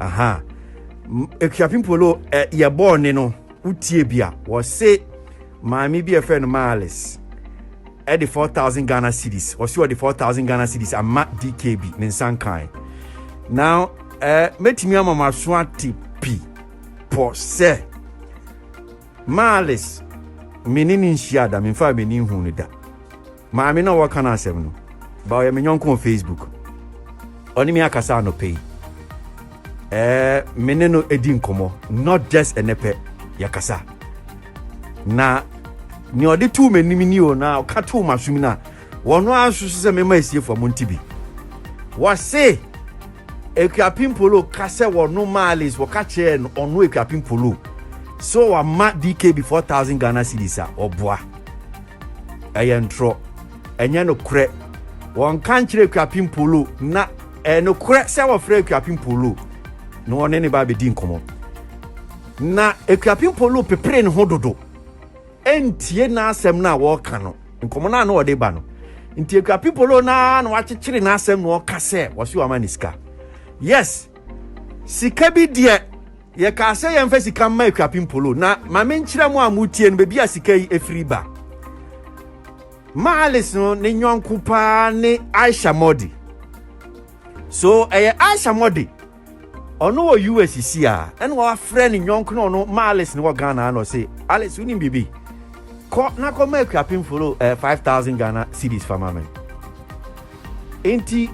aha ekuapim polo ɛ yɛ bɔɔ ne no wotie bi a wɔse maame bi a ɛfɛ no maalis ɛde four thousand ghana cedis wɔse wɔde four thousand ghana cedis ama dkb ne nsa nkan na ɛ mɛtumi ama ma so ate pi pɔ sɛ maalis mene ne nhyia da memfa m'ani hu no da Maame no a wɔreka n'asɛm no, ba ɔyɛ me yɔnko wɔ Facebook. Ɔne me akasa anɔpa yi. Ɛɛ, me ne no di nkɔmmɔ, not just ɛnɛ pɛ, yɛkasa. Na nea ɔde too m'anim ni o, na ɔka too m'asom no a, wɔn ara nso so sɛ mema asiefo a monte bi. Wɔse, Akuapem Polo ka sɛ wɔno Marlins, wɔka kyerɛɛ no ɔno Akuapem Polo, sɛ wɔama DKB 4,000 Ghana cedis a, ɔboa. Ɛyɛ ntorɔ. Ɛnyɛ nokorɛ. Wɔnka nkyerɛ Akuapem Polo na ɛyɛ nokorɛ sɛ wɔfrɛ Akuapem Polo na wɔne ne ba abɛdi nkɔmmɔ. Na Akuapem Polo pepere ne ho dodo ɛntie n'asɛm no a wɔreka no, nkɔmmɔ no a na wɔde ba no. Nti Akuapem Polo no ara na wakyekyere n'asɛm na ɔka sɛ wɔse wama ne sika. Yes, sika bi deɛ Yɛkaa sɛ yɛmfa sika mma Akuapem Polo. Na ma menkyerɛ mo a motie no baabi a sika yi afiri ba. Ma Alice no ne nyɔnko paa ne Aisha Modi. So ɛyɛ Aisha Modi? Ɔno wɔ US si a, ɛna wafrɛ ne nyɔnko na ɔno ma Alice no wɔ Ghana na ɔse, Alice wonim biribi? Kɔ na kɔma Akuapem Polo eh, 5000 Ghana cedis fa ma me. Enti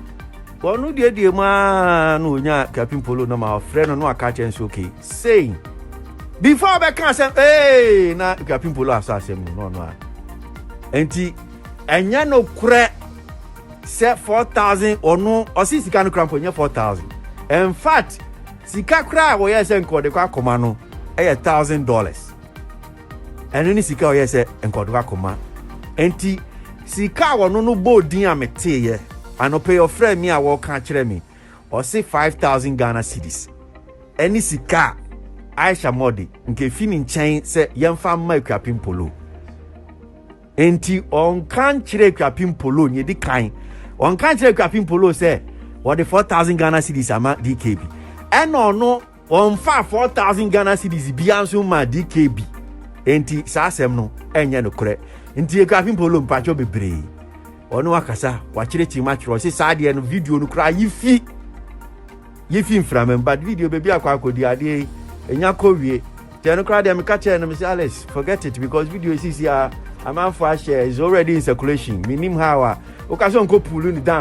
wɔno duadua mu ara na ɔnyaa Captain Polo no ma ɔfrɛ no na waka kyerɛ nso okay saying before ɔbɛka asɛm ee na Captain Polo asɔ asɛm no na ɔno a enti ɛnyɛ no korɛ sɛ 4000 ɔno ɔsi sika no kora mpo ɛnyɛ 4000 in fact sika kora a wɔyɛ sɛ nka ɔde kɔ akɔma no ɛyɛ 1000 dollars Ɛno ne sika a ɔyɛɛ sɛ nkwadwoka koma. Enti sika a wɔno no bɔɔ din a meteeɛ. Anɔpa yi ɔfrɛɛ me a wɔreka akyerɛ me. Ɔse five thousand Ghana cedis ɛne sika a Aisha Mordi nka ɛfi ne nkyɛn sɛ yɛmfa mma Akuapem Polo. Enti ɔnka nkyerɛ Akuapem Polo nea ɛdi kan. Ɔnka nkyerɛ Akuapem Polo sɛ wɔde four thousand Ghana cedis ama DKB. Ɛna ɔno Wɔmfaa four thousand Ghana cedis biara nso mmaa DKB. Enti saa asɛm no ɛnyɛ nokorɛ. Nti Ekuafin Polo mpakyɛw bebree. Ɔno akasa wakyerɛkyerɛ mu atwerɛ ɔse saa adeɛ no video no koraa yifi yifi mframa mu but video baabi akɔ akɔdi adeɛ yi enya kɔ wie. Nti ɛno koraa deɛ meka kyerɛ no mese Alex forget it because video yi sisi a amanfoɔ ahyɛ is already in circulation menim how a woka sɛ ɔnkɔ pull no down.